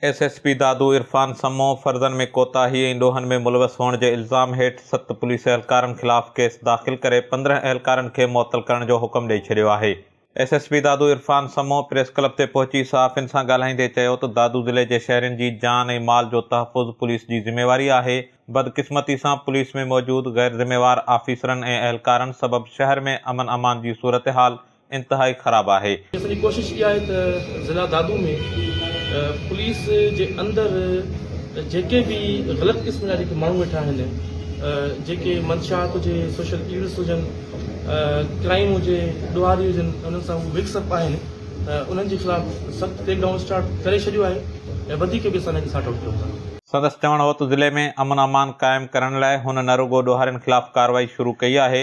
S S P Dadu Irfan Samoon فرضن ۾ ڪوتاهي ۽ ڏوهن ۾ ملوث هئڻ جي الزام هيٺ ست پوليس اهلڪارن خلاف ڪيس داخل ڪري پندرهن اهلڪارن کي معطل ڪرڻ جو حڪم ڏئي ڇڏيو آهي. S S P Dadu Irfan Samoon press club تي پهچي صحافين سان ڳالهائيندي چيو ته دادو ضلعي جي شهرين جي جان ۽ مال جو تحفظ پوليس جي ذميواري آهي، بدقسمتي سان پوليس ۾ موجود غيرذميوار آفيسرن ۽ اهلڪارن سبب شهر ۾ امن امان جي صورتحال انتهائي خراب آهي. اسان جي ڪوشش اها آهي ته ضلع دادو ۾ پوليس جي اندر جيڪي به غلط قسم جا جيڪي ماڻهو ويٺا آهن جيڪي منشيات هجي سوشل ايولز هجن ڪرائيم هجي ڏوهاري هجن انهن سان هو مڪس اپ آهن انهن جي خلاف سخت ڪريڪ ڊائون اسٽارٽ ڪري ڇڏيو آهي ۽ وڌيڪ به اسان انهن کي سارٽ آئوٽ ڪيون ٿا. سندس چوڻ هو ته ضلعي ۾ امن امان قائم ڪرڻ لاء هن نه رڳو ڏوهارين خلاف ڪارروائي شروع ڪئي آهي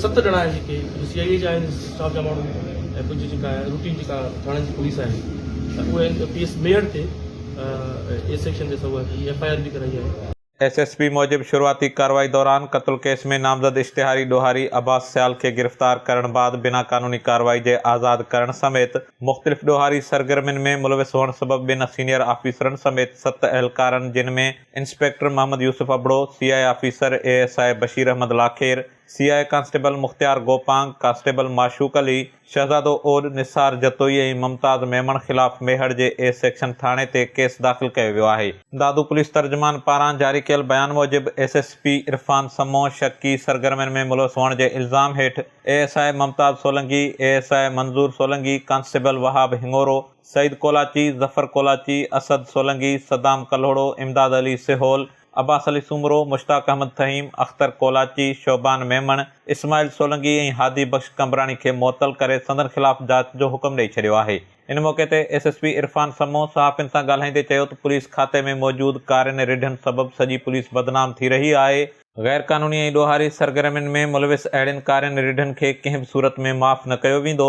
ست ڄڻا آهن جيڪي جو سي آء اي جا آهن اسٽاف جا ماڻهو ۽ ڪجهه جيڪا روٽين جيڪا ٿاڻن جي پوليس آهي اهي اين پي ايس ميڙ تي اي سيڪشن تي سوئي اي ايف آء آر به ڪرائي آهي. ايس ايس پي موجب شروعاتي ڪارروائي دوران قتل ڪيس ۾ نامزد اشتهاري ڏوهاري عباس سيال کي گرفتار ڪرڻ بعد بنا قانوني ڪارروائي جي آزاد ڪرڻ سميت مختلف ڏوهاري سرگرمين ۾ ملوث هئڻ سبب ٻن سينيئر آفيسرن سميت ست اهلڪارن جن ۾ inspector Muhammad Yousuf Abro, C I A officer A S I Bashir Ahmed Lakhair, C I A constable Mukhtiar Gopang, constable Mashooq Ali, Shahzado Odh, Nisar Jatoi ۽ ممتاز ميمڻ خلاف ميهڙ جي اي سيڪشن ٿاڻي تي ڪيس داخل ڪيو ويو آهي. دادو پوليس ترجمان پاران جاري ڪيل بيان موجب S S P Irfan Samoon شڪي سرگرمين ۾ ملوث هئڻ جي الزام هيٺ A S I Mumtaz Solangi, A S I Manzoor Solangi, constable Wahab Hingoro, Saeed Kolachi, Zafar Kolachi, Asad Solangi, Saddam Kalhoro, Imdad Ali Sahol, Abbas Ali Soomro, Mushtaq Ahmed Faheem, Akhtar Kolachi, Shaban Memon, Ismail Solangi ۽ Hadi Bakhsh Qambrani کي معطل ڪري سندن خلاف جاچ جو حڪم ڏئي ڇڏيو آهي. ان موقعي تي S S P Irfan Samoon صحافين سان ڳالهائيندي چيو ته پوليس کاتي ۾ موجود ڪارين رڍن سبب سڄي پوليس بدنام ٿي رهي آهي، غير قانوني ۽ ڏوهاري سرگرمين ۾ ملوث اهڙين ڪارين رڍن کي ڪنهن به صورت ۾ معاف نه ڪيو ويندو،